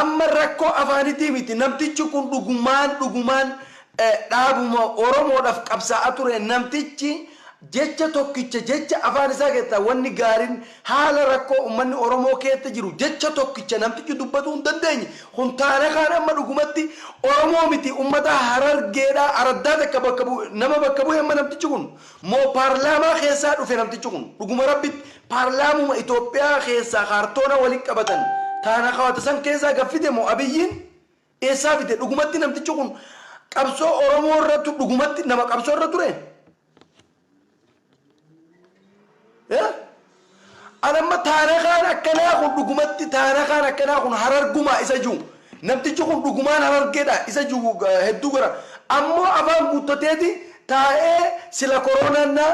Amma rakkoo afaanitii miti namtichi kun dhugumaan dhugumaan dhaabuma oromoodhaf qabsaa'a ture namtichi jecha tokkicha jecha afaan isaa keessaa wanni gaarin haala rakkoo ummanni oromoo keessa jiru jecha tokkicha namtichi dubbatuu hin dandeenye kun taana kaan amma dhugumatti oromoo miti ummata harargeedha araddaa takka bakka bu'e nama bakka bu'e amma namtichi kun Moo paarlaamaa keessaa dhufe namtichi kun? Dhuguma rabbitti paarlaamuma Itoophiyaa keessaa kaartoona wali qabatan taana kawata san keessaa gad fide moo Abiyyiin eessaa fide? Dhugumatti namtichi kun qabsoo Oromoo irra tu dhugumatti nama qabsoo irra ture? Eh? An amma taarakaan akkanaa kun dhugumatti taarakaan akkanaa kun harargumaa isa juu namtichi kun dhugumaan harargedha isa juu hedduu gara ammoo afaan guuttateeti taa'ee sila koroonaan naa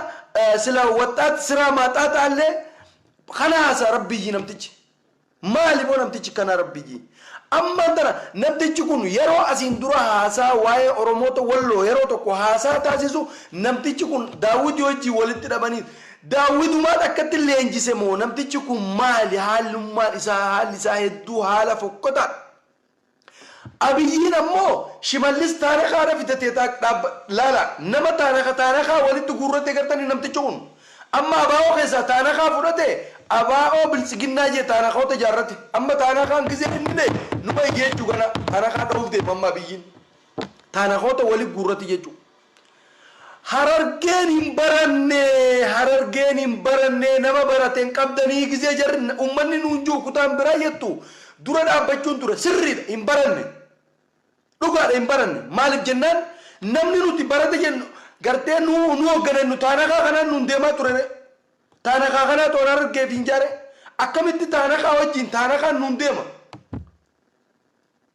sila waxxaat siraa maaxaaxaallee kana haasa rabbiyyii namtichi. Maali moo namtichi kanaa rabbii jii. Ammaan tana namtichi kun yeroo asiin dura haasaa waa'ee oromoota walloo yeroo tokko haasaa taasisu namtichi kun daawwiti wajjiin walitti dhabanii daawwitumaat akkatti leenjise moo namtichi kun maali haalummaan isaa haalli isaa hedduu haala fokkotaadha Abiyyiin ammoo shimallis taarakaa na fidatee taak dhaabba laala nama taaraka taarakaa walitti guurratee gartani namtichi kun amma abaa'oo keessaa taanakaa fudhate abaa'oo biltsiginnaa jee taanakaota ijaarrate amma taanakaan gizee inni bee numa ijeechuu gana taanakaa dhahuuf deema amma abiyyiin taanakoota wali guurrate jechuu Harargeen hin barannee Harargeen hin barannee nama barate hin qabdanii gizee jarri ummanni nuun ju'u kutaan biraa jettu dura dhaabbachuun ture sirriidha hin baranne dhugaadha hin baranne maalif jennaan namni nuti barate jennu gartee nu nu hoggane nu taanakaa kanaan nuun deemaa turere taanakaa kanaa toon Harargeef hin jaare akkamitti taanakaa wajjin taanakaan nuun deema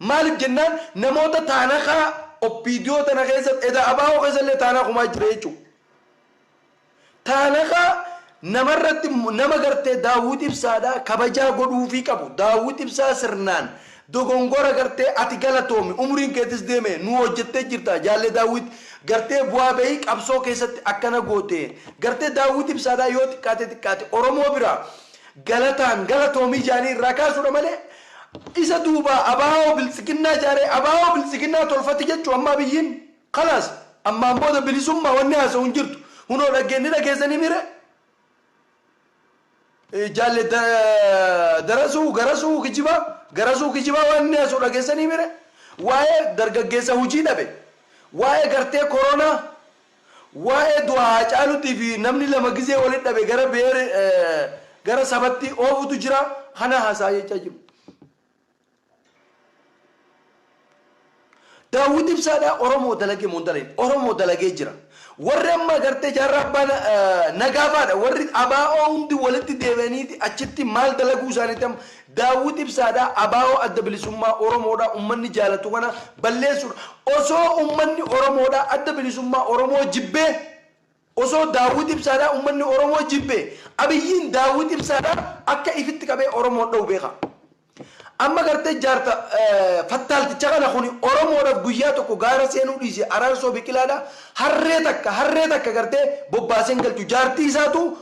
Maalif jennaan namoota taanakaa opdo tana keessa eda abo keessa illee taanaa kumaa jira jechuu. Taanakaa namarratti nama gartee daawwit ibsaadha kabajaa godhuufii qabu daawwit ibsaa sirnaan dogongora gartee ati galatoomi umriin keetis deeme nuu hojjettee jirta jaalle daawwit gartee bu'aa bahii qabsoo keessatti akkana goote gartee daawwit ibsaadha yoo xiqqaate xiqqaate oromoo biraa Galataan galatoomii jaanii irraa kaasuudha malee isa duubaa Abaawoo Biltsiginnaa jaaree Abaawoo Biltsiginnaa tolfati jechuu amma Abiyyiin kalaas ammaan booda bilisummaa wanni haasawu hin jirtu hunoo dhaggeen ni dhageessanii mire jaalle Darasuu Garasuu Kijibaa Garasuu Kijibaa waan inni haasawu dhageessanii mire waa'ee dargaggeessa hujii dhabe waa'ee gartee koronaa Waa'ee du'a Haacaaluutii fi namni lama gizee wali dhabe gara beer gara sabatti oofutu jira kana haasa'a jechaa jiru. Daawwit Ibsaadhaa Oromoo dalagee moo hin dalagne? Oromoo dalagee jira. Warri amma agartee jaarraa abbaa na- eh, nagaafaadha. Warri abaa'oo hundi walitti deebi'aniiti achitti maal dalaguu isaaniitti amma Daawwit Ibsaadha, ABO Adda Bilisummaa Oromoodha, ummanni jaalatu kana balleessuudha. Osoo ummanni Oromoodha, Adda Bilisummaa Oromoo jibbee, osoo Daawwit Ibsaadha ummanni Oromoo jibbe, Abiyyiin Daawwit Ibsaadha akka ifitti qabee Oromoon dhahu beeka. Amma gartee jaarta fattaalticha kana kuni Oromoodhaf guyyaa tokko gaara seenuu dhiise Araarsoo Biqilaadha harree takka, harree takka gartee bobbaasee hin galchu. Jaartii isaatu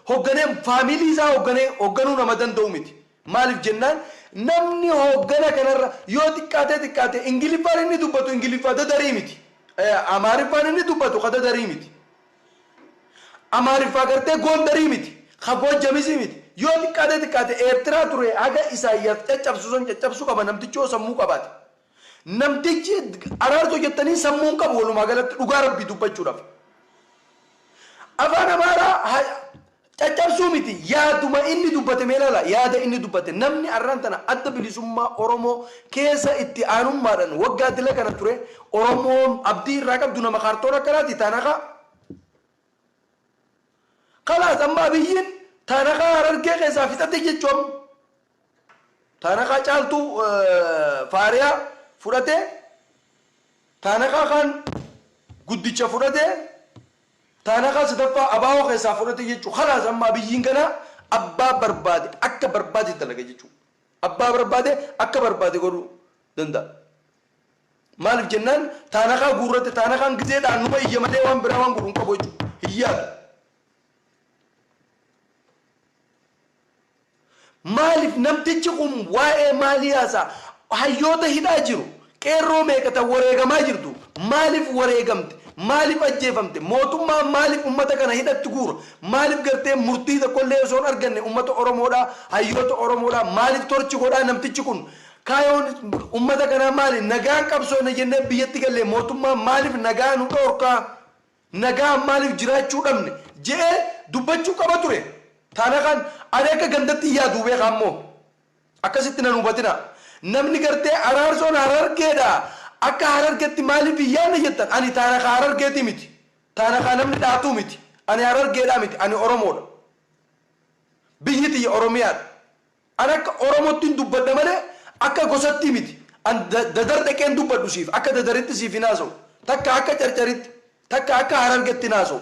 Hogganee family isaa hogganee hogganuu nama danda'u miti. Maaliif jennaan namni hoggana kanarra yoo xiqqaatee xiqqaate Ingiliffaan inni dubbatu Ingiliffa dadarii miti. Amaariffaan inni dubbatu ka dadarii miti. Amaariffaa gartee Gondarii miti. Ka Goojjamisii miti. Yoo xiqqaatee xiqqaate Eertiraa turee haga Isaayyaas caccabsu san caccabsu qaba namtichi yoo sammuu qabaate. Namtichi Araarsoo jettanii sammuu hin qabu walumaa galatti dhugaa rabbii dubbachuudhaaf. Afaan Amaaraa ha- caccabsuu miti yaaduma inni dubbate mee ilaala yaada inni dubbate namni arraan tana adda bilisummaa Oromoo keessa itti aanummaadhaan waggaa dila kana ture Oromoon abdii irraa qabdu nama kaartoon akkanaati taanakaa kalaas amma abiyyiin taanakaa harargee keessaa fixate jechuun Taanakaa caaltuu faariyaa fudhatee taanakaa kaan guddicha fudhatee taanakaa sadaffaa abaawoo keessaa fudhate jechuu kalaas amma abiyyiin kanaa abbaa barbaade akka barbaade dalaga jechuu abbaa barbaade akka barbaade godhuu danda'a maaliif jennaan taanakaa guurrate taanakaan gizeedhaan numa iyya malee waan biraa waan godhu hin qabu jechuu hin yaadu Maalif namtichi kun waa'ee maalii haasa'a? Hayyoota hidhaa jiru. Qeerroo meeqa tan wareegamaa jirtu? Maalif wareegamte? Maalif ajjeefamte? Mootummaan maalif ummata kana hidhatti guura? Maalif gartee murtii tokkollee osoo hin arganne ummata Oromoodhaa, hayyoota Oromoodhaa maalif torch godhaa namtichi kun? Kaayoon ummata kanaa maali? Nagaan qabsoofna jennee biyyatti gallee mootummaan maalif nagaa nu dhoorkaa? Nagaan maaliif jiraachuu dhabne? je'ee dubbachuu qaba ture. Taanakaan ani akka gandatti hin yaaduu beeka ammoo akkasitti nan hubatinaa. Namni gartee Araarsoon Harargeedha akka Harargetti maaliif hin yaanne jettan ani Taanakaa Harargeetii miti. Taanakaa namni dhahatu miti. Ani Harargeedhaa miti. Ani Oromoodha. Biyyi tiyya Oromiyaadha. An akka oromottin dubbadha malee akka gosattii miti an dadar dhaqeen dubbadhu siif akka dadaritti siif hin haasa'u takka akka carcaritti takka akka harargetti hin haasa'u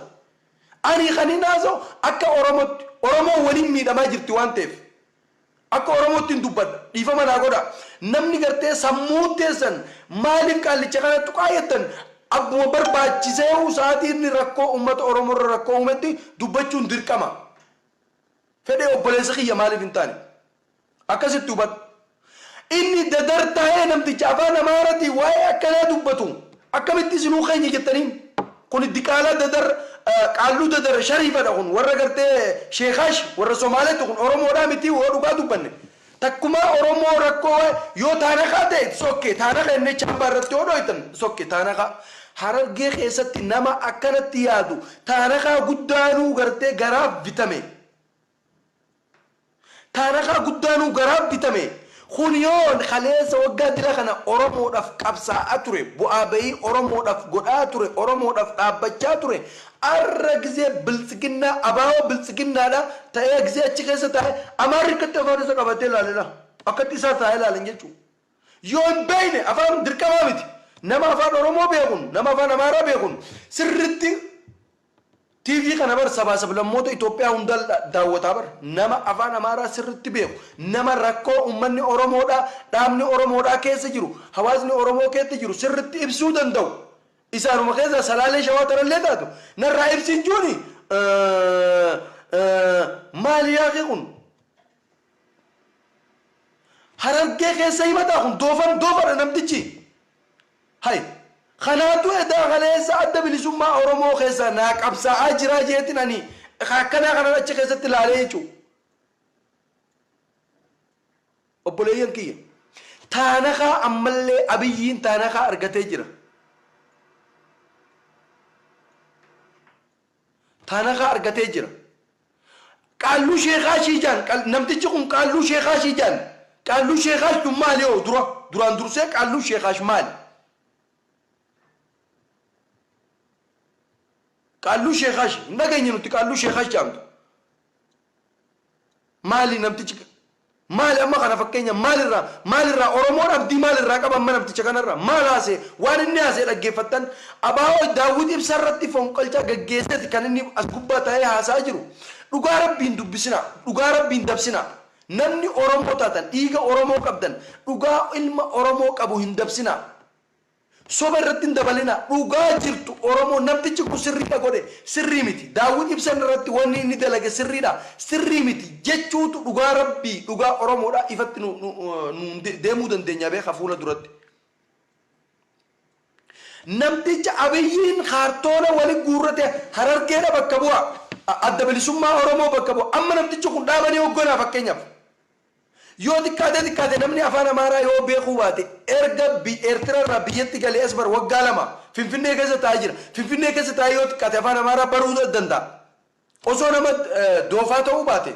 ani kanin haasa'u akka oromotti oromoon walin miidhamaa jirti waan ta'eef akka oromoottin dubbadha dhiifama naa godhaa namni gartee sammuun teessan maaliif qaallicha kana tuqaa jettan abbuma barbaachiseehu sa'atii inni rakkoo ummata oromorra rakkoo uumetti dubbachuun dirqama. Fedhee obboleessa kiyya maaliif hin taane? Akkasitti hubadhu. Inni dadar taee namticha afaan amaaratiin waee akkanaa dubbatu akkamitti isinuu keenya jettaniin? Kuni diqaalaa dadar qaalluu dadar shariifadha kun warra gartee sheekaash warra somaaleetti kun oromoodhaa mitii hoo dhugaa dubbanne Takkumaa oromoo rakkoo wae yoo taanakaa tae it's ok taanaka jennee chaambaa irratti yoo dhoytan it's ok taanakaa harargee keessatti nama akkanatti yaadu taanakaa guddaanuu gartee garaa bitame taanakaa guddaanuu garaa bitame kun yoo kaleessa waggaa dila kana oromoodhaf qabsaa a ture buaa baii oromoodhaf godhaa ture oromoodhaf dhaabbachaa ture Arra gizee biltsiginnaa abaawoo biltsiginnaadha ta'ee gizee achi keessa taa'e amaarri akkatti afaan isa qabatee laalera akkatti isaa taa'ee laalan jechuu yoo hin beeyne afaan dirqamaa miti nama afaan oromoo beekun nama afaan amaaraa beekun sirritti TV kana bar sabaa sablammoota Itoophiyaa hundaal daawwataa bar nama afaan amaaraa sirritti beeku nama rakkoo ummanni oromoodhaa dhaabni oromoodhaa keessa jiru hawaasni oromoo keessa jiru sirritti ibsuu danda'u Isaanuma keessaa Salaalee Shawaa tanallee taatu narraa ibsin juuni maali yaakee kun? Harargee keessa himataa kun doofan doofadha namtichi. Hay kanaatu edaa kaleessa adda bilisummaa Oromoo keessaa naa qabsaa'aa jiraa jeetin ani ka akkanaa kanan achi keessatti laalee jechuu. Obboleeyyan kiyya! Taanakaa ammallee Abiyyiin taanakaa argatee jira. Taanakaa argatee jira. Qaalluu sheekaa ishii jaan qal- namtichi kun qaalluu sheekaa ishii jaan qaalluu sheekaash tun maali hoo dura duraan dursee qaalluu sheekaash maali? Qaalluu sheekaash hin dhageenye nuti qaalluu sheekaash jaamtu. Maali namtichi maali amma kana fakkeenya maal irraa maal irraa Oromoon abdii maal irraa qaba amma namticha kana irraa maal haasee waan inni haasee dhaggeeffattan Abaawoo Daawwit Ibsaa irratti fonqolchaa gaggeesseeti kan inni as gubbaa taa'ee haasa'aa jiru dhugaa rabbii hin dubbisinaa dhugaa rabbii hin dabsinaa namni Oromoo taatan dhiiga Oromoo qabdan dhugaa ilma Oromoo qabu hin dabsinaa Soba irratti hin dabalinaa. Dhugaa jirtu Oromoo namtichi kun sirriidha godhe sirrii miti. Daawwit Ibsan irratti wanni inni dalage sirriidha sirrii miti jechuutu dhugaa Rabbii dhugaa Oromoodha ifatti nuun deemuu dandeenya beeka fuula duratti. Namticha Abiyyiin kaartoona wali guurrate Harargeedha bakka bu'a. Adda Bilisummaa Oromoo bakka bu'a. Amma namtichi kun dhaaba ni hogganaa fakkeenyaaf. Yoo xiqqaatee xiqqaate namni Afaan Amaaraa yoo beekuu baate erga Eertira irraa biyyatti galee as bar waggaa lama Finfinnee keessa taa'ee jira. Finfinnee keessa taa'ee yoo xiqqaate Afaan Amaaraa baruu danda'a. Osoo nama doofaa ta'uu baate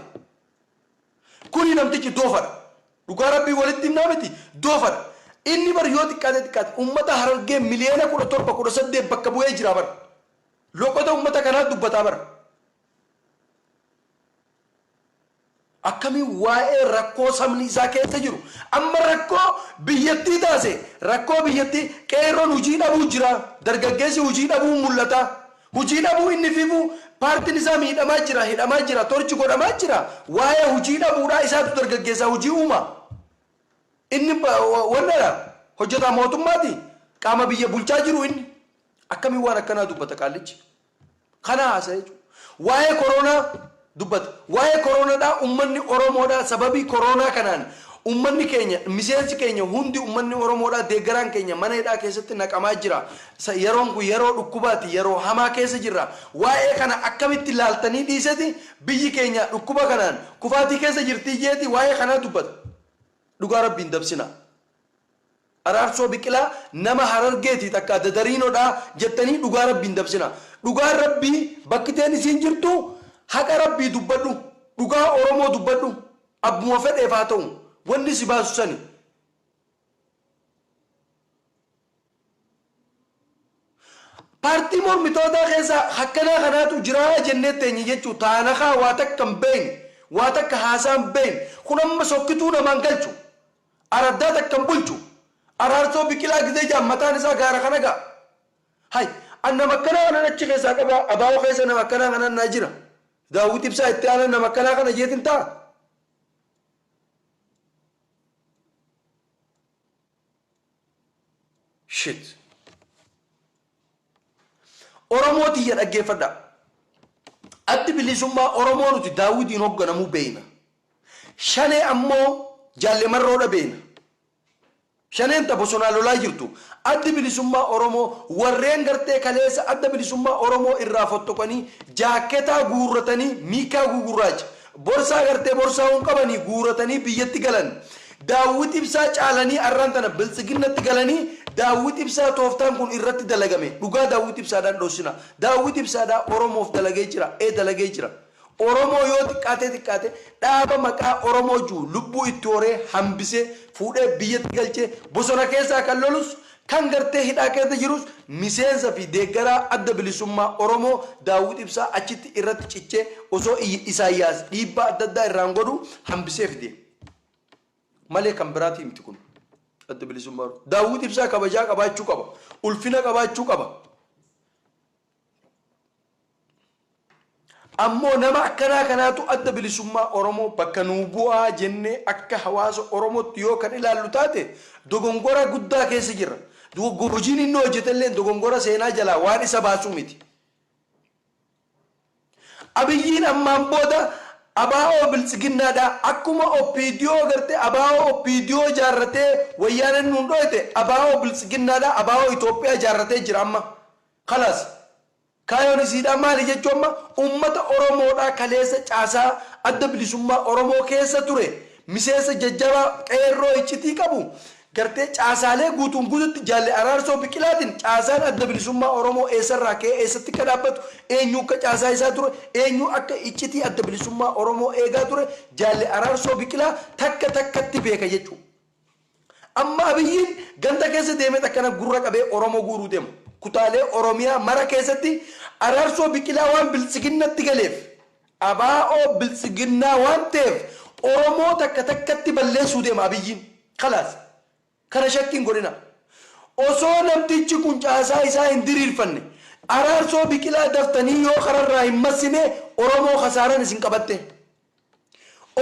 kuni namtichi doofadha. Dhugaa Rabbii walitti himnaa miti doofadha. Inni bar yoo xiqqaatee xiqqaate ummata Harargee miliyoona 17, 18 bakka bu'ee jira bar. Loqoda ummata kanaa dubbataa bar. Akkamiin waa'ee rakkoo sabni isaa keessa jiru amma rakkoo biyyattii taase? Rakkoo biyyattii qeerroon hujii dhabuu jira, dargaggeessi hujii dhabuun mul'ata. Hujii dhabuu inni figu paartiin isaa miidhamaa jira, hidhamaa jira, torch godhamaa jira. Waa'ee hujii dhabuudhaa isaatu dargaggeessaa hujii uuma. Inni wanna dha, hojjetaa mootummaati, qaama biyya bulchaa jiru inni. Akkamiin waan akkanaa dubbata qaallichi? kana haasa'e jechuudha. Waa'ee koroonaa dubbata. Waa'ee koroonadhaa ummanni Oromoodhaa sababii koroonaa kanaan ummanni keenya miseensi keenya hundi ummanni Oromoodhaa deeggaraan keenya mana hidhaa keessatti naqamaa jira. Sa, yeroon kun yeroo dhukkubaati, yeroo hamaa keessa jirra. Waa'ee kana akkamitti laaltanii dhiiseti biyyi keenya dhukkuba kanaan kufaatii keessa jirtii jeeti waa'ee kanaa dubbata. Dhugaa Rabbii hin dabsinaa. Araarsoo Biqilaa nama Harargeeti takka adda dariinodha jettanii dhugaa rabbii hin dabsinaa. Dhugaan rabbii bakki teen isiin jirtu haqa rabbii dubbadhu dhugaa oromoo dubbadhu abbuma fedheef haa ta'u wanni si baasu sani. Paartii mormitootaa keessa hakkanaa kanaatu jiraa jennee teenye jechuu taanakaa waa takka hin beeyne, waa takka haasaa hin beeyne, kun amma sokkituu namaa hin galchu, araddaa takka hin bulchu, Araarsoo Biqilaa gizee ja'an mataan isaa gaara kana ga'a. Hay, an nama akkanaa kanan achi keessaa qaba, ABO keessa nama akkanaa kanaan naa jira. Daawwit Ibsaa itti aanaan nama akkanaa kana jeetin taa'a. Shit. Oromoo tiyya dhaggeeffadhaa. Addi Bilisummaa Oromoo nuti Daawwitiin hogganamuu beeyna. Shanee ammoo Jaalle Marroodha beeyna. Shaneen ta bosonaa lolaa jirtu. Addi Bilisummaa Oromoo warreen gartee kaleessa Adda Bilisummaa Oromoo irraa fottoqanii jaakketaa guurratanii miikkaa gugurraacha Borsaa gartee borsaa hun qabanii guuratanii biyyatti galan Daawwit Ibsaa caalanii arraan tana Biltsiginnatti galanii Daawwit Ibsaa tooftaan kun irratti dalagame dhugaa Daawwit Ibsaadhaan dhossina Daawwit Ibsaadhaa Oromoof dalagee jira ee dalagee jira Oromoo yoo xiqqaatee xiqqaate dhaaba maqaa Oromoo ju'u lubbuu itti horee hambisee fuudhee biyyatti galchee bosona keessaa kan lolus Kan gartee hidhaa keessa jirus miseensa fi deeggaraa Adda Bilisummaa Oromoo Daawwit Ibsaa achitti irratti cichee osoo Isaayyaas dhiibbaa adda addaa irraan godhuu hambisee fide malee kan biraatii miti kun Adda Bilisummaa Oromoo. Daawwit Ibsaa kabajaa qabaachuu qaba. Ulfina qabaachuu qaba. Ammoo nama akkanaa kanaatu Adda Bilisummaa Oromoo bakka nuu bu'a jennee akka hawaasa Oromootti yoo kan ilaallu taate dogongora guddaa keessa jirra. Hojiin inni hojjetelleen dogongora seenaa jalaa waan isa baasu miti. Abiyyiin ammaan booda ABO Biltsiginnaadhaa akkuma OPDO gartee ABO OPDO ijaarratee Wayyaaneen nuun dhooyte ABO Biltsiginnaadhaa ABO Itoophiyaa ijaarratee jira amma. Kalaas. Kaayoon isiidhaa maali jechuu amma ummata Oromoodhaa kaleessa caasaa Adda Bilisummaa Oromoo keessa ture miseensa jajjabaa Qeerroo iccitii qabu gartee caasaalee guutuun guututti Jaalle Araarsoo Biqilaatiin caasaan Adda Bilisummaa Oromoo eessarraa ka'ee eessatti akka dhaabbatu eenyuukka caasaa isaa ture eenyuu akka iccitii Adda Bilisummaa Oromoo eegaa ture Jaalle Araarsoo Biqilaa takka takkatti beeka jechuu Amma Abiyyiin ganda keessa deemeet akkana gurra qabee Oromoo guuruu deema. Kutaalee Oromiyaa mara keessatti Araarsoo Biqilaa waan Biltsiginnatti galeef, ABO Biltsiginnaa waan ta'eef Oromoo takka takkatti balleessuu deema Abiyyiin. Kalaas. Kana shakki hin godhinaa. Osoo namtichi kun caasaa isaa hin diriirfanne, Araarsoo Biqilaa daftanii yoo kararraa hin massine Oromoo kasaaraan isin qabattee.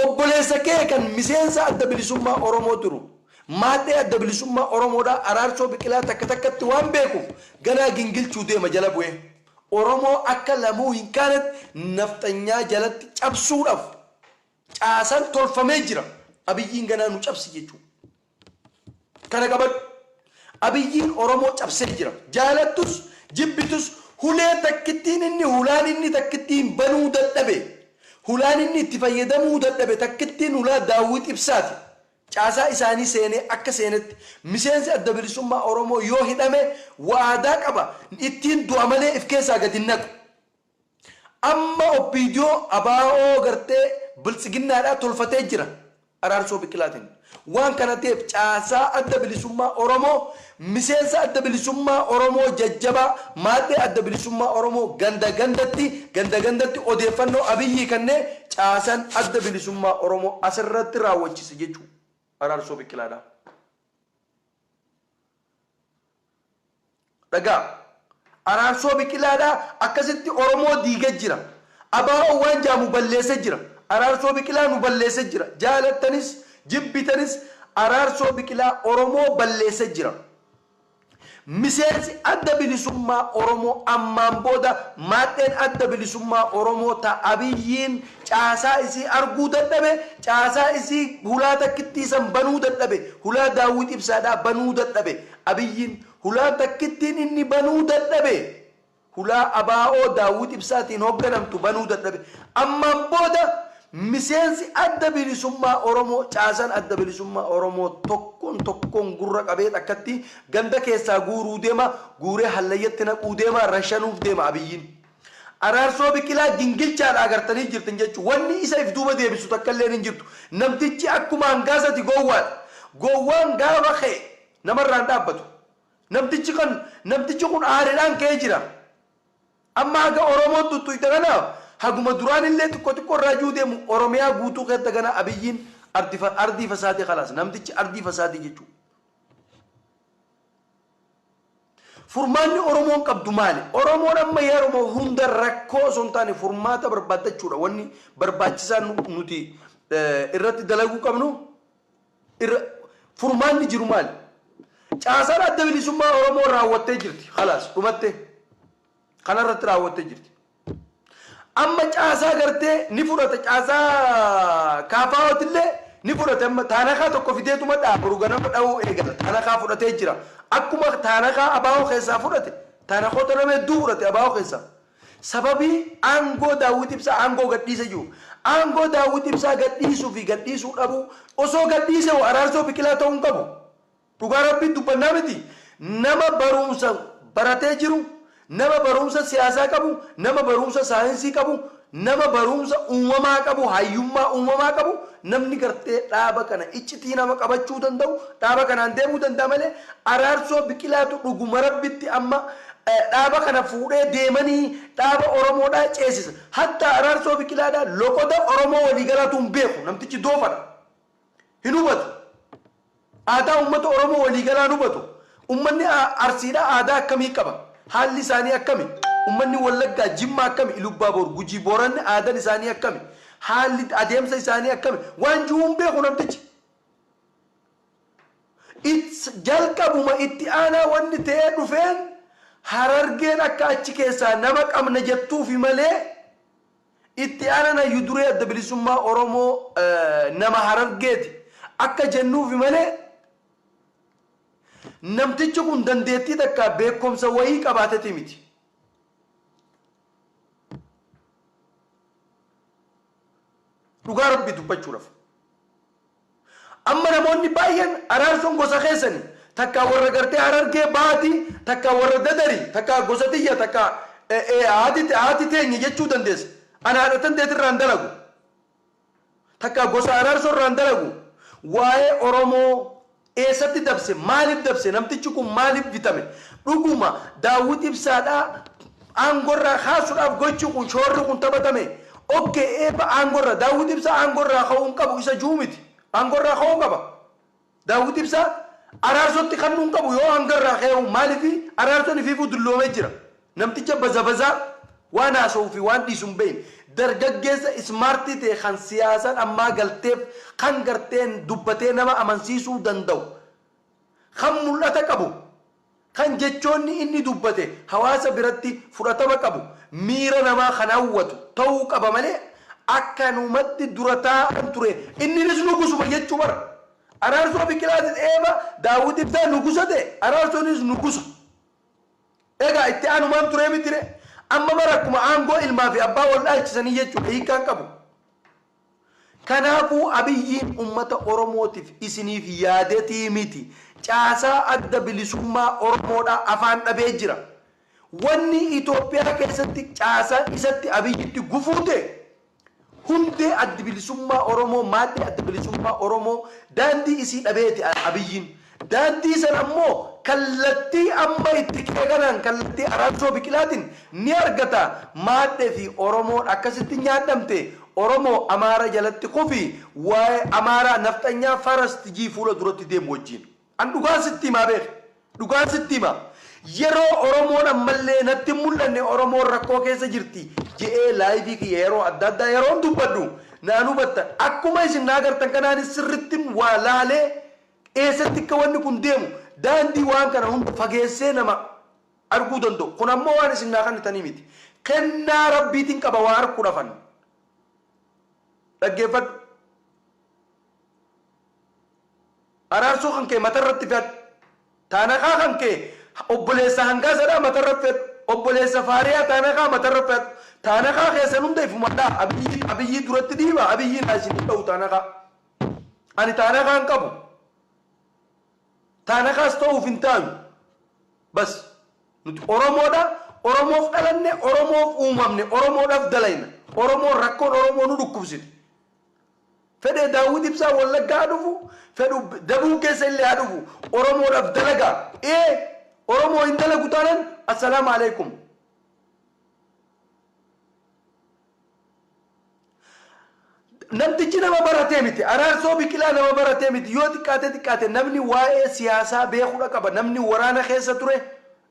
Obboleessa kee kan miseensa Adda Bilisummaa Oromoo turu, maadhee Adda Bilisummaa Oromoodhaa Araarsoo Biqilaa takka takkatti waan beekuuf ganaa gingilchuu deema jala bu'ee. Oromoo akka lamuu hin kaanetti nafxanyaa jalatti cabsuudhaf caasan tolfamee jira. Abiyyiin ganaa nu cabsi jechuudha. Kana qabadhu. Abiyyiin Oromoo cabsee jira. Jaalattus, jibbitus hulee takkittiin inni hulaan inni takkittiin banuu dadhabe, hulaan inni itti fayyadamuu dadhabe takkittiin hulaa Daawwit Ibsaati. Caasaa isaanii seenee akka seenetti miseensi Adda Bilisummaa Oromoo yoo hidhame waadaa qaba ittiin du'a malee if keessaa gad hin naqu. Amma opdo ABO gartee biltsiginnaadhaa tolfatee jira Araarsoo Biqilaatiin. Waan kana ta'eef caasaa Adda Bilisummaa Oromoo miseensa Adda Bilisummaa Oromoo jajjabaa maadhee Adda Bilisummaa Oromoo ganda gandatti ganda gandatti odeeffannoo Abiyyii kennee caasaan Adda Bilisummaa Oromoo asirratti raawwachise jechuu Araarsoo Biqilaadhaa. Dhagaa. Araarsoo Biqilaadha akkasitti Oromoo diige jira. Abaa'oo waan jaamu balleese jira. Araarsoo Biqilaa nu balleese jira. Jaalattanis jibbitanis Araarsoo Biqilaa Oromoo balleese jira. Miseensi Adda Bilisummaa Oromoo ammaan booda maadheen Adda Bilisummaa Oromoo ta Abiyyiin caasaa isii arguu dadhabe, caasaa isii hulaa takkittii san banuu dadhabe, hulaa Daawwit Ibsaadhaa banuu dadhabe. Abiyyiin hulaa takkittiin inni banuu dadhabe hulaa ABO Daawwit Ibsaatiin hogganamtu banuu dadhabe. Ammaan booda miseensi Adda Bilisummaa Oromoo caasan Adda Bilisummaa Oromoo tokkoon tokkoon gurra qabeet akkatti ganda keessaa guuruu deema, guuree hallayyatti naquu deema, rashanuuf deema Abiyyiin. Araarsoo Biqilaa gingilchaadha agartanii jirtan jechuun wanni isa if duuba deebistu takkalleen hin jirtu. Namtichi akkuma hangaasati gowwaadha. Gowwaan gaafa ka'e namarraa hin dhaabbatu. Namtichi kan namtichi kun aaridhaan ka'ee jira. Amma haga Oromoon xuxxuyxe kana haguma duraanillee xiqqo xiqqo irraa ji'uu deemu Oromiyaa guutuu keetti hagana Abiyyiin ardii fasaadee kalaas. Namtichi ardii fasaadee jechuudha. Furmaanni Oromoon qabdu maali? Oromoon amma yeroma hunda rakkoo osoo hin taane furmaata barbaaddachuudha wanni barbaachisaan nuti irratti dalaguu qabnu furmaanni jiru maali? Caasaan adda bilisummaa Oromoo raawwattee jirti. Halaas dhumattee kanarratti raawwattee jirti. Amma caasaa gartee ni fudhata caasaa KFOtillee ni fudhate amma taanakaa tokko fideetuma dha'a boru ganama dha'uu eegala taanakaa fudhatee jira akkuma taanakaa abaawoo keessaa fudhate taanakoota nama hedduu fudhate abaawoo keessaa sababii aangoo daawwit ibsaa aangoo gadhiise jiru aangoo daawwit ibsaa gadhiisuu fi gadhiisuu dhabuu osoo gadhiise hoo araarsoo biqilaa ta'uu hin qabu Dhugaa rabbii dubbannaa miti nama baruumsa baratee jiru nama baruumsa siyaasaa qabu nama baruumsa saayinsii qabu nama baruumsa uumamaa qabu hayyummaa uumamaa qabu namni gartee dhaaba kana iccitii nama qabachuu danda'u dhaaba kanaan deemuu danda'a malee Araarsoo Biqilaatu dhuguma rabbitti amma dhaaba kana fuudhee deemanii dhaaba oromoodhaa ceesisa hattaa Araarsoo Biqilaadhaa loqoda oromoo waliigalaatu hin beeku namtichi doofadha. hin hubatu. Aadaa uummata Oromoo waliigalaa hin hubatu. Uummanni Arsiidhaa aadaa akkamii qaba? Haalli isaanii akkami? Uummanni Wallaggaa, Jimmaa akkami? Ilubbaaboor, Gujii, Booranni aadan isaanii akkami? Haalli adeemsa isaanii akkami? Waan ji'uu hin beeku namtichi. It's jalqabuma itti aanaa wanni ta'ee dhufeen Harargeen akka achi keessaa nama qabna jettuufi malee Itti aanaan Hayyu Duree Adda Bilisummaa Oromoo nama Harargeeti akka jennuufi malee namtichi kun dandeettii takkaa beekkomsa wayii qabaateti miti. Dhugaa Rabbii dubbachuudhaf. Amma namoonni baay'een Araarsoon gosa keessani, takkaa warra gartee Harargee bahaati, takkaa warra Dadari, takkaa gosa tiyya, takkaa haati teenya jechuu dandeessa. An haadha tanteeti irraa hin dalagu. Takkaa gosa Araarsoo irraa hin dalagu. Waa'ee Oromoo eessatti dabse, maaliif dabse, namtichi kun maaliif bitame, dhuguma Daawwit Ibsaadhaa aangorraa kaasudhaaf gochi kun, shoorri kun taphatame ok eebba aangorra Daawwit Ibsaa aangorraa ka'uu hin qabu isa ju'u miti. Aangorraa ka'uu qaba. Daawwit Ibsaa Araarsootti kannuu hin qabu yoo aangarraa ka'eehu maaliif Araarsoon ifiifuu dulloomee jira. Namticha bazabazaa waan haasa'uu fi waan dhiisu hin beekne. Dargaggeessa ismaartii ta'e kan siyaasa dhammaa galteef kan garteen dubbatee nama amansiisuu danda'u kan mul'ata qabu, kan jechoonni inni dubbate hawaasa biratti fudhatama qabu, miira namaa kan hawwatu ta'uu qaba malee akkanumatti dura taa'aan ture inninis nugusuma jechuu bar! Araarsoo Biqilaatis eeba Daawwit Ibsaa nugusa ta'e Araarsoonis nugusa. Egaa itti aanu maam turee mitiree? Amma bar akkuma aangoo ilmaafi abbaa wal dhaalchisanii jechuudha hiikkaan qabu. Kanaafuu Abiyyiin ummata Oromootif isiniif yaadetii miti. Caasaa Adda Bilisummaa Oromoodhaa afaan dhabee jira. Wanni Itoophiyaa keessatti caasaa isatti Abiyyitti gufuu ta'e hundee Addi Bilisummaa Oromoo, maadhee Adda Bilisummaa Oromoo daandii isii dhabeeti Abiyyiin. Daandii san ammoo kallattii amma itti ka'e kanaan kallattii Araarsoo Biqilaatin ni argata. Maadhe fi Oromoon akkasitti nyaadhamte. Oromoo Amaara jalatti kufi. Waa'ee Amaaraa Nafxanyaa Faras TG fuula duratti deemu wajjiin. An dhugaan sitti himaa beeki. Dhugaan sitti himaa. Yeroo Oromoon ammallee natti hin mul'anne Oromoon rakkoo keessa jirti je'ee live kiyya yeroo adda addaa yeroon dubbadhu naan hubattan. Akkuma isin na agartan kanaanis sirrittin waa laalee Eessatti akka wanni kun deemu daandii waan kana hunda fageessee nama arguu danda'u. Kun ammoo waan isin naa kannitanii miti. Kennaa Rabbiitiin qaba waa arkuudhafan. Dhaggeeffadhu. Araarsoo kan kee matarratti fe'adhu. Taanakaa kan kee obboleessa hangaasadhaa matarra fe'adhu. Obboleessa faariyaa taanakaa matarra fe'adhu. Taanakaa keessan hunda ifuman dhaha. Abiyyii Abiyyii duratti dhiiba Abiyyiin haa isin hin dhahu taanakaa. Ani taanakaa hin qabu. Taanakaas ta'uuf hin taanu. Bas. Nuti Oromoodha. Oromoof dhalanne, Oromoof uumamne, Oromoodhaaf dalayna. Oromoon rakkoon Oromoo nu dhukkubsite. Fedhee Daawwit Ibsaa Wallaggaa haa dhufu, fedhu Dabuu keessa illee haa dhufu. Oromoodhaaf dalagaa. Ee Oromoo hin dalagu taanan Assalaam Alaikum. Namtichi nama baratee miti. Araarsoo Biqilaa nama baratee miti. Yoo xiqqaatee xiqqaate namni waa'ee siyaasaa beekudha qaba. Namni waraana keessa ture,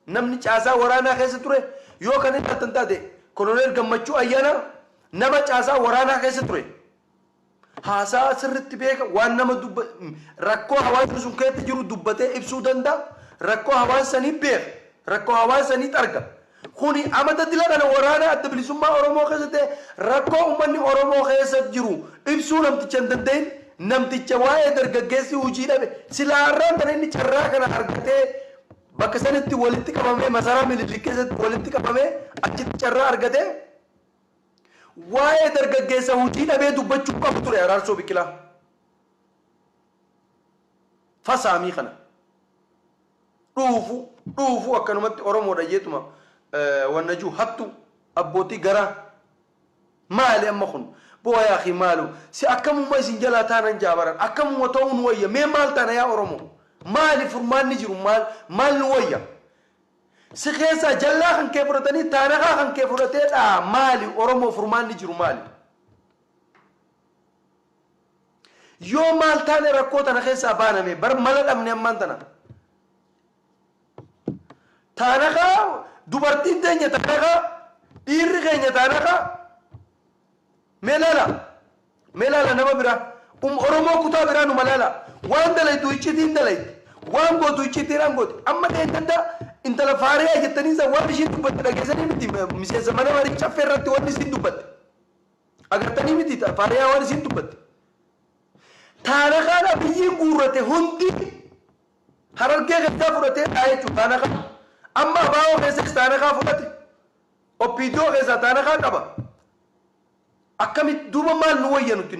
namni caasaa waraanaa keessa ture, yoo kan ilaaltan taate Koloneel Gammachuu Ayyaanaa nama caasaa waraanaa keessa ture. Haasaa sirritti beeka, waan nama dubba, rakkoo hawaasni sun keessa jiru dubbatee ibsuu danda'a, rakkoo hawaasa sanii beeka, rakkoo hawaasa sanii xarga. Kuni amata dila kana waraana adda bilisummaa Oromoo keessa ta'e rakkoo ummanni Oromoo keessa jiru ibsuu namticha hin danda'in, namticha waa'ee dargaggeessi hujii dhabe, silaa arraan tana inni carraa kana argatee bakka sanitti walitti qabamee masaraa Minilik keessatti walitti qabamee achitti carraa argatee, Waa'ee dargaggeessa hojii dhabee dubbachuu qabu ture Araarsoo Biqilaa. Fa saamii kana. Dhuufu dhuufu akkanumatti Oromoodha jeetuma wanna jiu hattu abbootii garaa. Maali amma kun? Boo yaa akhi maalu si akkamuma isin jalaa taanan jaa baran akkamuma ta'uu nu wayya mee maal taana yaa Oromoo? Maali furmaanni jiru maal maal nu wayya? Si keessaa jallaa kan kee fudhatanii taanakaa kan kee fudhatee dhaa maali oromoo furmaanni jiru maali? Yoo maal taane rakkoo tana keessaa baaname bar mala dhabne ammaan tana. Taanakaa dubartiin teenya taanakaa dhiirri keenya taanakaa Mee laala Mee laala nama biraa Um oromoo kutaa biraa numa laala Waan dalaydu iccitiin dalaydi Waan gootu iccitiidhaan gooti Amma dheengadda intala faariyaa jettanii san waan ishiin dubbatte dhageessanii miti miseensa mana marii caffee irratti waan isiin dubbatte agartanii miti ta faariyaa waan isiin dubbatte taana kaan abiyyiin guurrate hundi harargee keessaa fudhatee dhaa jechuudha taana kaan amma abaa'oo keessas taana kaa fudhate Opdo keessaa taanakaa qaba akkamitti duuba maal nu wayya nutti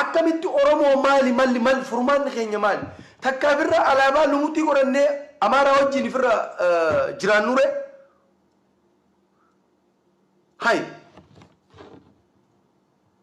akkamitti oromoo maali malli mal furmaanni keenya maali takkaa firra alaabaa lumuxii godhannee amaaraa wajjiin firra jiraannuree hay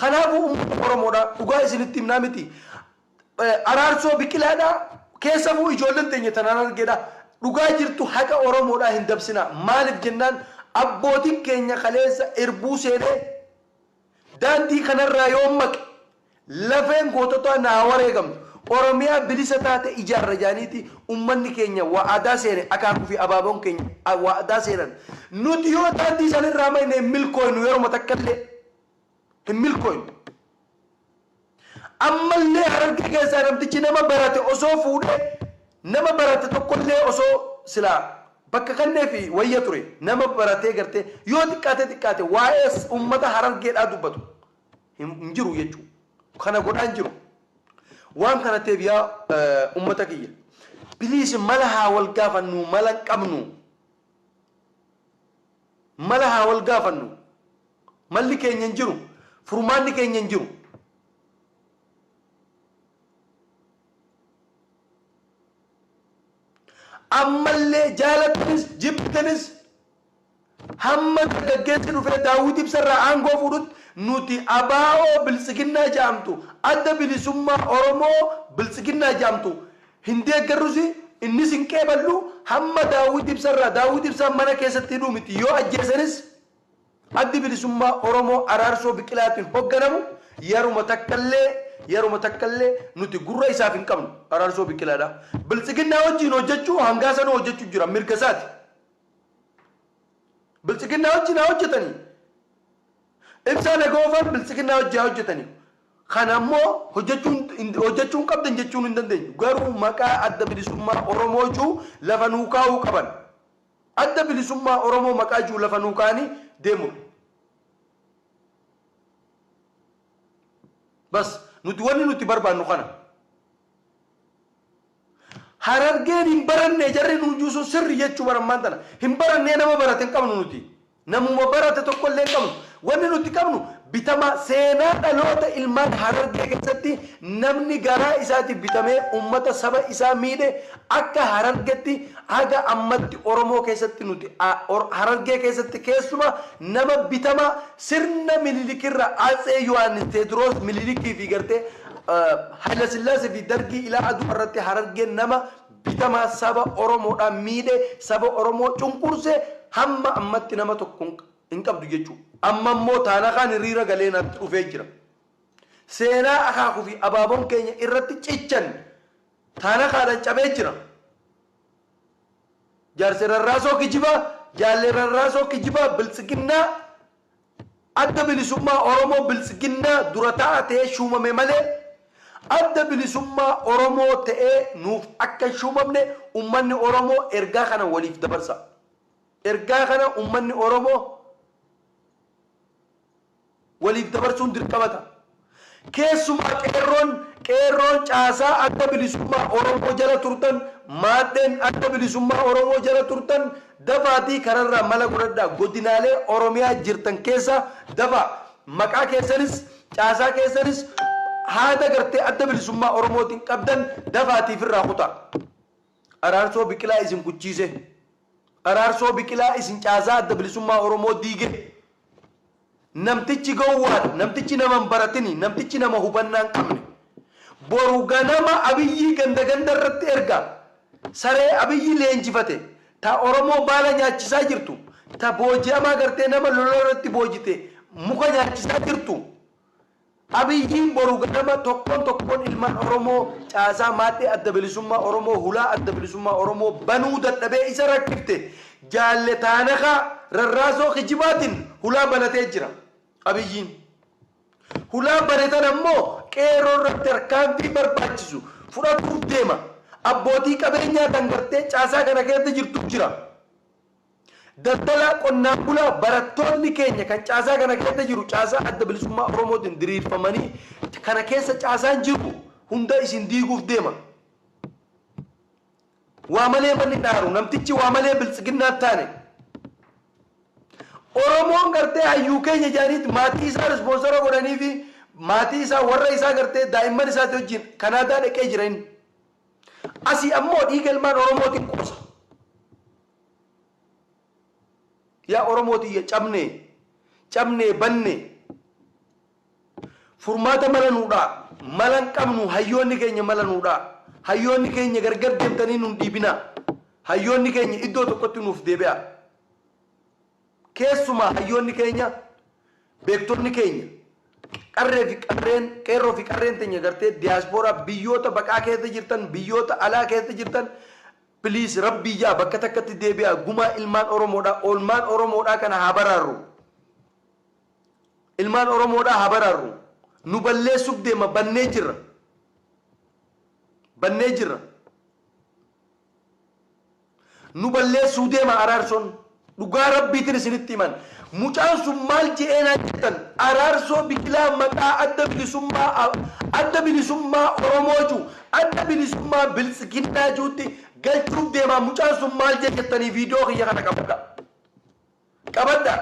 Kanaafuu ummata Oromoodha dhugaa isinitti himnaa miti Araarsoo Biqilaadha keessafuu ijoollen teenya tan Harargeedha dhugaa jirtu haqa Oromoodhaa hin dabsinaa maalif jennaan abbootin keenya kaleessa irbuu seenee daandii kanarraa yoon maqe lafeen goototaa naa wareegamtu Oromiyaa bilisa taate ijaarra jedhaniiti Ummanni keenya wa'adaa seene, akaakuu fi abaaboon keenya wa'adaa seenan. Nuti yoo daandii san irraa mayne hin milkooynu, yeruma takka illee hin milkooynu. Amma illee Harargee keessaa namtichi nama barate osoo fuudhee nama barate tokko illee osoo silaa bakka kanneefi wayya ture. Nama baratee gartee yoo xiqqaatee xiqqaate waa'ee ummata Harargeedhaa dubbatu. hin hin jiru jechuu kana godhaa hin jiru waan kana ta'eef yaa eh, ummata kiyya please mala haa wal gaafannu mala hin qabnu mala haa wal gaafannu malli keenya hin jiru furmaanni keenya hin jiru ammallee jaalatnis jibbitanis Hamma dargaggeessi dhufee Daawwit Ibsa irraa aangoo fuudhutti nuti ABO Biltsiginnaa ja'amtu, Adda Bilisummaa Oromoo Biltsiginnaa ja'amtu, hin deeggarrusi, innis hin qeeballu, hamma Daawwit Ibsa irraa Daawwit Ibsaa mana keessatti hidhuu miti, yoo ajjeesanis Addi Bilisummaa Oromoo Araarsoo Biqilaatiin hogganamu yaruma takkallee, yaruma takkallee nuti gurra isaaf hin qabnu, Araarsoo Biqilaadha. Biltsiginnaa wajjiin hojjachuu hangaasanuu hojjachu jira, mirga isaati. Biltsiginnaa wajjin haa hojjetanii. Ibsaa Nagoofaan Biltsiginnaa wajjin haa hojjetanii. Kan ammoo hojjechuu hin qabdan jechuun hin dandeenyu. Garuu maqaa adda bilisummaa Oromoo juu lafa nuu kaa'uu qaban. Adda bilisummaa Oromoo maqaa juu lafa nuu kaa'anii deemudha. Bas nuti wanni nuti barbaannu kana. Harargeen hin barannee jarri nuun juu sun sirri jechuu bar ammaan tana hin barannee nama barate hin qabnu nuti namuma barate tokko illee hin qabnu wanni nuti qabnu bitamaa seenaa dhaloota ilmaan harargee keessatti namni garaa isaati bitamee ummata saba isaa miidhe akka harargetti haga ammatti oromoo keessatti nuti harargee keessatti keessuma nama bitamaa sirna mililikirra atsee yohaannis teedroos mililikii fi gartee Haylasillaasee fi Dargii ilaa Adwaa irratti Harargeen nama bitamaa saba Oromoodhaa miidhe, saba Oromoo cunqurse hamma ammatti nama tokko hin qabdu jechuu. Amma immoo Taanakaan hiriira galee natti dhufee jira. Seenaa Akaakuu fi Abaaboon keenya irratti cichan Taanakaadhaan cabee jira. Jaarse Rarraasoo kijibaa, Jaalle Rarraasoo kijibaa, Biltsiginnaa Adda Bilisummaa Oromoo Biltsiginnaa dura taa'aa ta'ee shuumame malee Adda Bilisummaa Oromoo ta'ee nuuf akka hin shuumamne ummanni Oromoo ergaa kana waliif dabarsaa. Ergaa kana ummanni Oromoo waliif dabarsuun dirqama ta'a. Keessumaa Qeerroon, Qeerroon caasaa Adda Bilisummaa Oromoo jala turtan, Maadheen Adda Bilisummaa Oromoo jala turtan dafaatii kanarraa mala godhadhaa godinaalee Oromiyaa jirtan keessaa dafaa maqaa keessanis, caasaa keessanis haada gartee Adda Bilisummaa Oromootiin qabdan dafaatii firraa kutaa. Araarsoo Biqilaa isin kuchiisee. Araarsoo Biqilaa isin caasaa Adda Bilisummaa Oromoo diigee namtichi gowwaadha, namtichi nama hin baratini, namtichi nama hubannaa hin qabne. Boru ganama Abiyyii ganda ganda irratti ergaa, saree Abiyyi leenjifate, ta Oromoo baala nyaachisaa jirtu, ta booji'amaa gartee nama lola irratti boojite muka nyaachisaa jirtu, Abiyyiin boru ganama tokkoon tokkoon ilmaan Oromoo caasaa Maadhee Adda Bilisummaa Oromoo hulaa Adda Bilisummaa Oromoo banuu dadhabee isa rakkifte Jaalle Taanakaa rarraasoo kijibaatiin hulaa banatee jira. Abiyyiin hulaa bane tana immoo Qeerroo irratti tarkaanfii barbaachisu fudhatuuf deema. Abbootii qabeenyaa tan gartee caasaa kana keessa jirtu jira. Daldalaa, qonnaan bulaa, barattootni keenya kan caasaa kana keessa jiru caasaa Adda Bilisummaa Oromootiin diriirfamanii kana keessa caasaan jiru hunda isin diiguuf deema. Waa malee manni hin aaru. Namtichi waa malee Biltsiginnaa hin taane. Oromoon gartee hayyuu keenya jedhaniit maatii isaa rispoonsara godhanii fi maatii isaa warra isaa gartee daa'imman isaati wajjin Kanaadaa dhaqee jira inni. Asii ammoo dhiiga ilmaan Oromootiin qoosa. Yaa Oromoo tiyya cabne, cabne, banne. Furmaata mala nuu dhaa. Mala hin qabnu hayyoonni keenya mala nuu dhaa. Hayyoonni keenya gargar deemtanii nun dhiibinaa. Hayyoonni keenya iddoo tokkotti nuuf deebi'aa. Keessumaa hayyoonni keenya beektonni keenya qarree fi qarreen qeerroo fi qarreen teenya gartee diyaaspooraa biyyoota baqaa keessa jirtan biyyoota alaa keessa jirtan Please rabbii ja'a bakka takkatti deebi'aa gumaa ilmaan oromoodhaa oolmaan oromoodhaa kana haa baraarru ilmaan oromoodhaa haa baraarru nu balleessuf deema bannee jirra bannee jirra nu balleessuu deema araarsoon Dhugaa rabbiitin isinitti himan mucaan sun maal je'ee naan jettan Araarsoo Biqilaa maqaa adda bilisummaa adda bilisummaa oromoo ju adda bilisummaa biltsiginnaa ju'utti galchuuf deemaa mucaan sun maal jee jettanii viidiyoo kiyya kana qabadha qabadha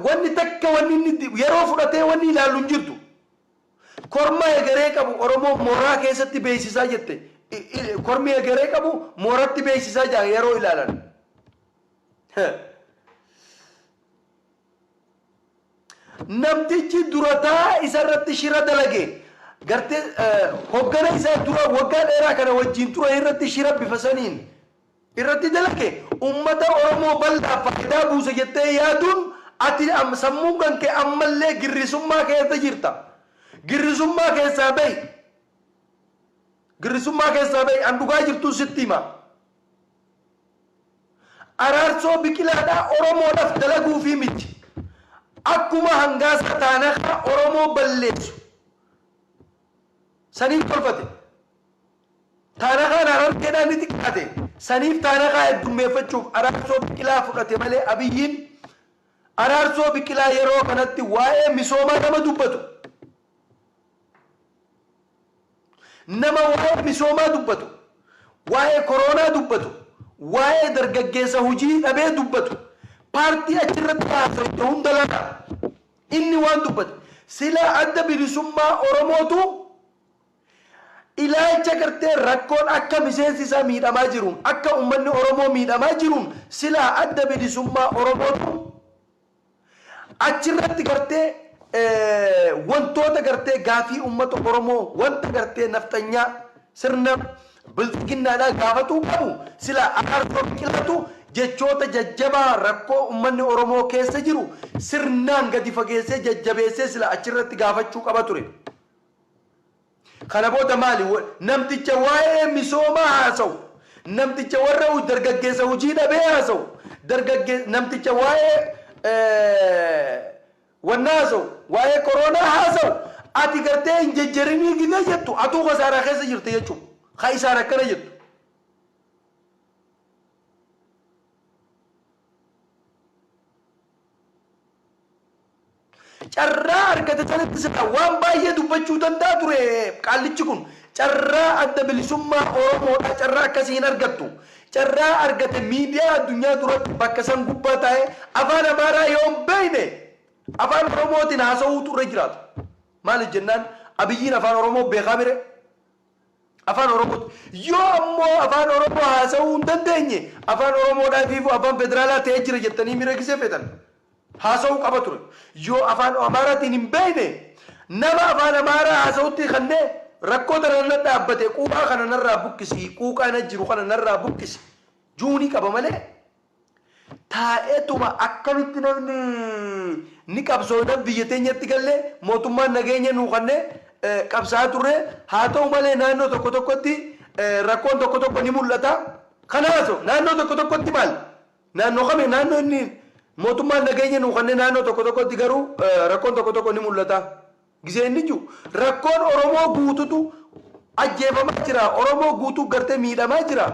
wanni takka wanni inni yeroo fudhatee wanni ilaallu hin jirtu. Korma egeree qabu Oromoon mooraa keessatti beeksisaa jette kormi egeree qabu mooratti beeksisaa jira yeroo ilaalan. Namtichi durataa isarratti shira dalage gartee hoggana isaa dura waggaa dheeraa kana wajjin ture irratti shira bifa saniin irratti dalage ummata Oromoo bal'aaf faayidaa buusa jettee yaaduun ati sammuun kan kee ammallee girrisummaa keessa jirta. Girrisummaa keessaa bahi. Girrisummaa keessaa bahi. An dhugaa jirtuun sitti hima. Araarsoo Biqilaadhaa Oromoodhaf dalaguufii miti. Akkuma Hangaasaa Taanakaa Oromoo balleessu saniif tolfate. Taanakaan Harargeedhaa ni xiqqaate. Saniif Taanakaa heddummeeffachuuf Araarsoo Biqilaa fudhate malee Abiyyiin Araarsoo Biqilaa yeroo kanatti waa'ee misoomaa nama dubbatu, nama waa'ee misoomaa dubbatu, waa'ee koroonaa dubbatu, waa'ee dargaggeessa hujii dhabee dubbatu, paartii achirratti haasofte hunda laala. Inni waan dubbate, Silaa Adda Bilisummaa Oromootu, Ilaalcha gartee rakkoon akka miseensi isaa miidhamaa jiruun akka ummanni Oromoo miidhamaa jiruun silaa Adda Bilisummaa Oromootu achirratti gartee wantoota gartee gaafii ummata Oromoo wanta gartee nafxanyaa sirna Bilxiginnaadhaa gaafatuu qabu silaa Araarsoo Biqilaatu jechoota jajjabaa rakkoo ummanni Oromoo keessa jiru sirnaan gadi fageessee jajjabeessee silaa achirratti gaafachuu qaba ture. Kana booda maali? Namticha waa'ee misoomaa haasa'u, namticha warra hu, dargaggeessa hujii dhabee haasa'u, dargagge, namticha waa'ee wannaa haasa'u, waa'ee koroonaa haasa'u, ati gartee hin jejjerinii gidee jettu atuu kasaaraa keessa jirta jechuu. Ka isaan akkana jettu. Carraa argate sanatti silaa waan baay'ee dubbachuu danda'a ture qaallichi kun. Carraa Adda Bilisummaa Oromoodhaa carraa akkasii hin argattu. Carraa argate miidiyaa addunyaa duratti bakka san gubbaa taa'ee Afaan Amaaraa yoo hin beekne Afaan Oromootiin haasa'uutu irra jiraata. Maaliif jennaan Abiyyiin Afaan Oromoo beekaa mire? Afaan Oromooti. Yoo ammoo Afaan Oromoo haasa'uu hin dandeenye, Afaan Oromoodhaa ifiifuu Afaan Federaalaa ta'ee jira jettanii miira gisee feetan haasa'uu qaba ture. Yoo Afaan Amaaraatiin hin beekne, nama Afaan Amaaraa haasa'utti kannee, rakkoo tana na dhaabbate, quuqaa kana narraa buqqisi, quuqaa na jiru kana narraa buqqisi ju'uu ni qaba malee, Taa'eetuma akkamitti namni ni qabsoofna biyya teenyatti galle mootummaan nageenya nuu kenne qabsaa'aa turre haa ta'u malee naannoo tokko tokkotti rakkoon tokko tokko ni mul'ata kana haaso naannoo tokko tokkotti maal naannoo kami naannoo inni mootummaan nageenya nuu kenne naannoo tokko tokkotti garuu rakkoon tokko tokko ni mul'ata. Gisee inni jiu rakkoon oromoo guututu ajjeefamaa jira oromoo guutuu gartee miidhamaa jira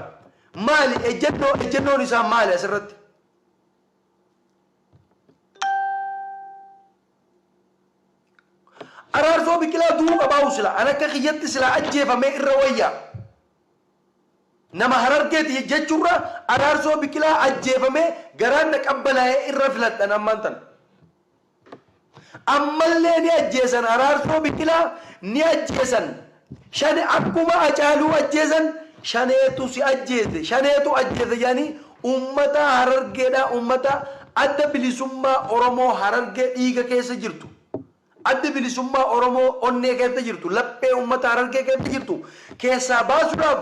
maali ejjennoo ejjennoon isaa maali asirratti. Araarsoo biqilaa du'uu qabaa'u sila an akka kiyyatti silaa ajjeefamee irra wayyaa. Nama harargeeti jechuurra araarsoo biqilaa ajjeefamee garaan na qabbanaa'ee irra filadhan ammaan tana. Ammallee ni ajjeesan Araarsoo Biqilaa ni ajjeesan Shane akkuma Acaaluu ajjeesan Shaneetu si ajjeese Shaneetu ajjeese jedhanii uummataa Harargeedhaa uummataa Adda Bilisummaa Oromoo Harargee dhiiga keessa jirtu Addi Bilisummaa Oromoo onnee keessa jirtu laphee uummata Harargee keessa jirtu keessaa baasuudhaaf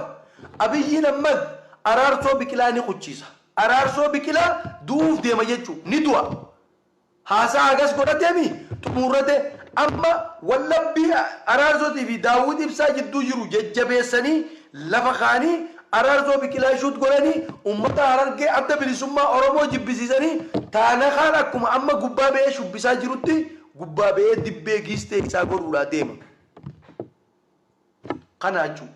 Abiyyiin Ahmad Araarsoo Biqilaa ni quchiisa Araarsoo Biqilaa du'uuf deema jechuu ni du'a Haasaa hagas godhateefi xumuurrate amma wallabbii Araarsotii fi Daawwit Ibsaa jidduu jiru jajjabeessanii lafa kaa'anii Araarsoo Biqilaa shoot godhanii ummata Harargee Adda Bilisummaa Oromoo jibbisiisanii Taanakaan akkuma amma gubbaa ba'ee shubbisaa jirutti gubbaa ba'ee dibbee giistee isaa godhuudhaa deema. Kana jechuu.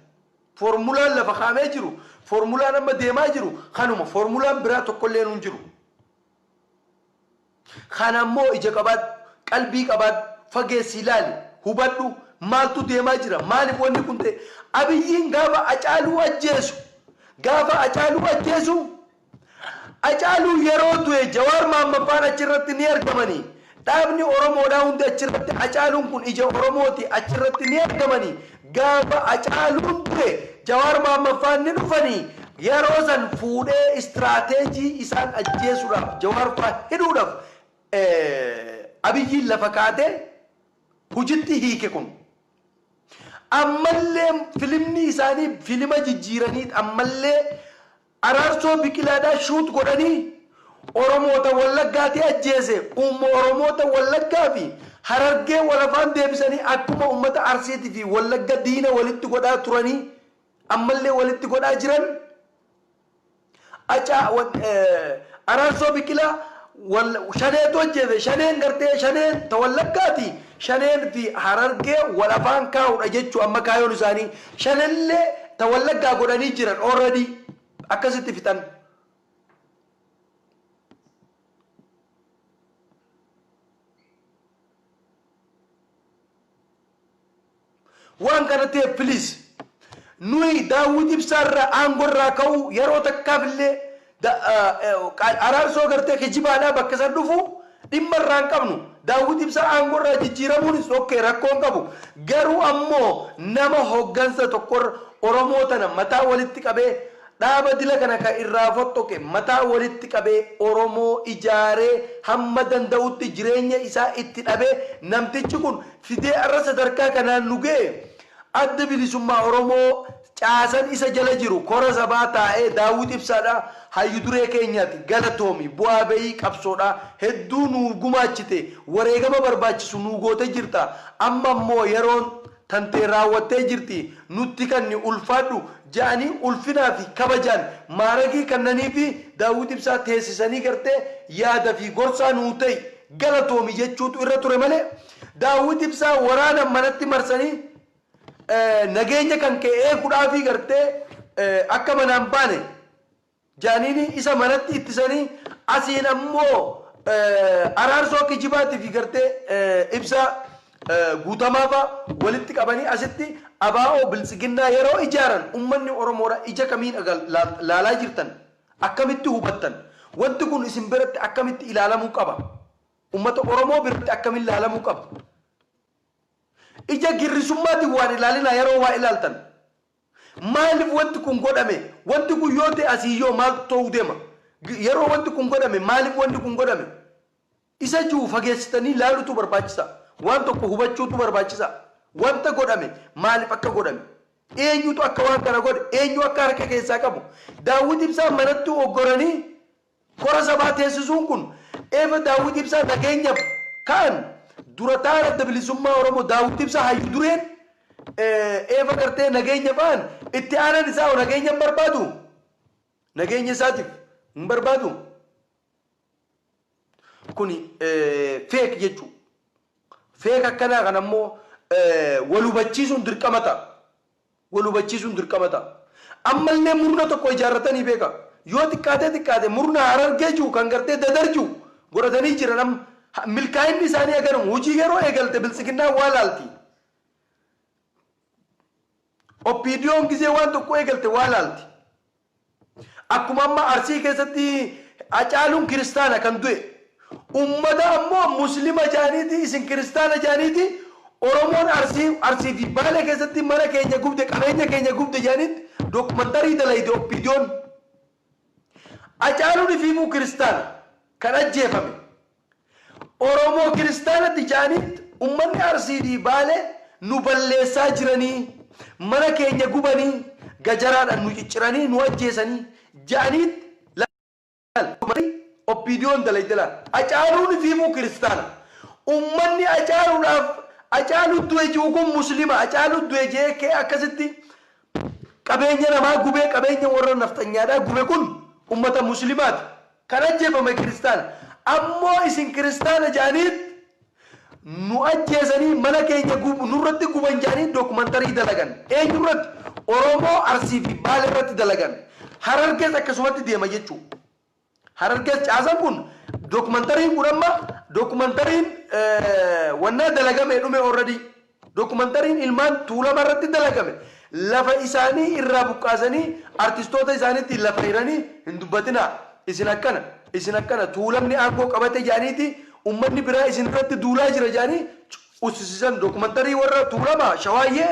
Foormulaan lafa kaa'amee jiru, foormulaan amma deemaa jiru kanuma. Foormulaan biraa tokkolleen hin jiru. Kana immoo ija qabaadhu, qalbii qabaadhu, fageessii ilaali, hubadhu, maaltu deemaa jira, maaliif wanni kun ta'e? Abiyyiin gaafa Acaaluu ajjeesu, gaafa Acaaluu ajjeesu, Acaaluu yeroo du'e Jawaar Mahammad faan achirratti ni argamanii? Dhaabni Oromoodhaa hundi achirratti Hacaaluun kun ija Oromooti achirratti ni argamani gaafa Hacaaluun du'e Jawaar Mohammad faan ni dhufani yeroo san fuudhee istraateejii isaan ajjeesuudhaaf Jawaar faa hidhuudhaf Abiyyiin lafa kaatee hujitti hiike kun ammallee filimni isaanii filima jijjiiraniit ammallee Araarsoo Biqilaadhaa shoot godhanii Oromoota Wallaggaatii ajjeese uumma Oromoota Wallaggaa fi Harargee wal afaan deebisanii akkuma uummata Arsiiti fi Wallagga diina walitti godhaa turanii ammallee walitti godhaa jiran Acaa wan Araarsoo Biqilaa wal shaneetu ajjeese shaneen gartee shaneen ta Wallaggaati shaneen fi Harargee wal afaan kaa'uudha jechuu amma kaayoon isaanii Shanelle ta wallaggaa godhanii jiran already akkasitti fixan. Waan kana ta'eef please nuyi daawwit ibsaarraa aangorraa ka'uu yeroo takkaafillee Da, a, Araarsoo gartee kijibaadha bakka san dhufu dhimma irraa hin qabnu. Daawwit Ibsaa aangoo irraa jijjiiramuunis ok rakkoo hin qabu. Garuu ammoo nama hoggansa tokko irra Oromoo tana mataa walitti qabee dhaaba dila kana ka irraa foxxoqe mataa walitti qabee Oromoo ijaaree hamma danda'utti jireenya isaa itti dhabee namtichi kun fidee har'a sadarkaa kanaan nu ga'e Addi Bilisummaa Oromoo caasan isa jala jiru kora sabaa taa'ee Daawwit Ibsaadha hayyu duree keenyati galatoomi bu'aa ba'ii qabsoodha hedduu nuu gumaachite wareegama barbaachisu nuu goote jirta amma immoo yeroon tantee raawwattee jirti nutti kanni ulfaadhu ja'anii ulfinaa fi kabajaan maaragii kannaniifi Daawwit Ibsaa teessisanii gartee yaada fi gorsaa nuu ta'i galatoomi jechuutu irra ture malee Daawwit Ibsaa waraana manatti marsanii nageenya kan kee eegudhaafii gartee akka manaan baane jaaniini isa manatti ittisanii asiin ammoo araarsoo kijibaatii fi gartee ibsaa guutamaafaa walitti qabanii asitti abaa'oo biltsiginnaa yeroo ijaaran ummanni Oromoodha ija kamiin laalaa jirtan akkamitti hubattan wanti kun isin biratti akkamitti ilaalamuu qaba. Ummata Oromoo birtti akkamin laalamuu qaba? Ija girrisummaatin waan ilaalinaa yaroo waa ilaaltan. Maalif wanti kun godhame? Wanti kun yoo ta'e asiiyyoo maaltu ta'uu deema? Yaroo wanti kun godhame maalif wanni kun godhame? Isa ji'u fageessitanii laalutu barbaachisa. Waan tokko hubachuutu barbaachisa. Wanta godhame maalif akka godhame? Eenyutu akka waan kana godhe? Eenyu akka harka keessaa qabu? Daawwit Ibsaan manatti oggoranii Kora sabaa teessisuun kun efa Daawwit Ibsaa nageenyaf ka'an dura ta'aan Adda Bilisummaa Oromoo Daawwit Ibsaa hayyu dureen efa gartee nageenya fa'an itti aanan isaa hoo nageenya hin barbaadu? Nageenya isaatif hin barbaadu? Kuni fake jechuu. Fake akkanaa kana immoo wal hubachiisuun dirqama ta'a. wal hubachiisuun dirqama ta'a. Ammallee murna tokko ijaarratanii beekaa? Yoo xiqqaatee xiqqaate murna Harargee ji'u kan gartee Dadar ji'u godhatanii jiran amma milkaa'inni isaanii haganuma. Hojii yeroo eegalte biltsiginnaan waa laalti. OPDOn gizee waan tokko eegalte waa laalti. Akkuma amma Arsii keessatti Hacaaluun kiristaana kan du'e ummata ammoo muslima jaaniiti isin kiristaana jaaniiti Oromoon Arsii Arsii fi Baalee keessatti mana keenya gubde qabeenya keenya gubde jaaniitti documentary dalayde OPDOn. Hacaaluun ifiifuu kiristaana kan ajjeefame. Oromoo kiristaana Tijaaniitt ummanni Arsii fi Baalee nu balleessaa jiranii, mana keenya gubanii, gajaraadhan nu cicciranii, nu ajjeesanii ja'aniitt laal wanti OPDOn dalayde laal. Acaaluun ifiifuu kiristaana. Ummanni Acaaluudhaaf Acaaluutt du'e ji'u kun Muslima. Acaaluutt du'e je'ee ka'ee akkasitti Qabeenya namaa gubee qabeenya warra nafxanyaadhaa gube kun ummata muslimaati. Kan ajjeefame kiristaana. Ammoo isin kiristaana ja'aniit nu ajjeesanii mana keenya gub nurratti guban ja'anii documentary dalagan. Eenyurratti? Oromoo Arsii fi Baaleerratti dalagan. Harargees akkasumatti deema jechuu. Hararges caasan kun documentariin kun amma documentariin wannaa dalagamee dhume already documentariin ilmaan tuulama irratti dalagame lafa isaanii irraa buqqaasanii artistoota isaaniitti lafa hiranii hin dubbatinaa isin akkana isin akkana tuulamni aangoo qabate jaaniiti ummanni biraa isin irratti duulaa jira jaanii ussisisan documentarii warra tuulama shawaayyee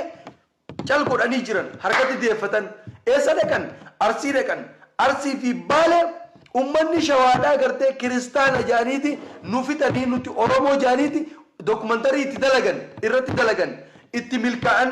cal godhanii jiran harkatti deeffatan eessa dhaqan? Arsii dhaqan. Arsii fi Baale ummanni shawaadhaa gartee kiristaana jedhaniiti nu fixanii nuti Oromoo jedhaniiti documentary itti dalagan irratti dalagan itti milkaa'an.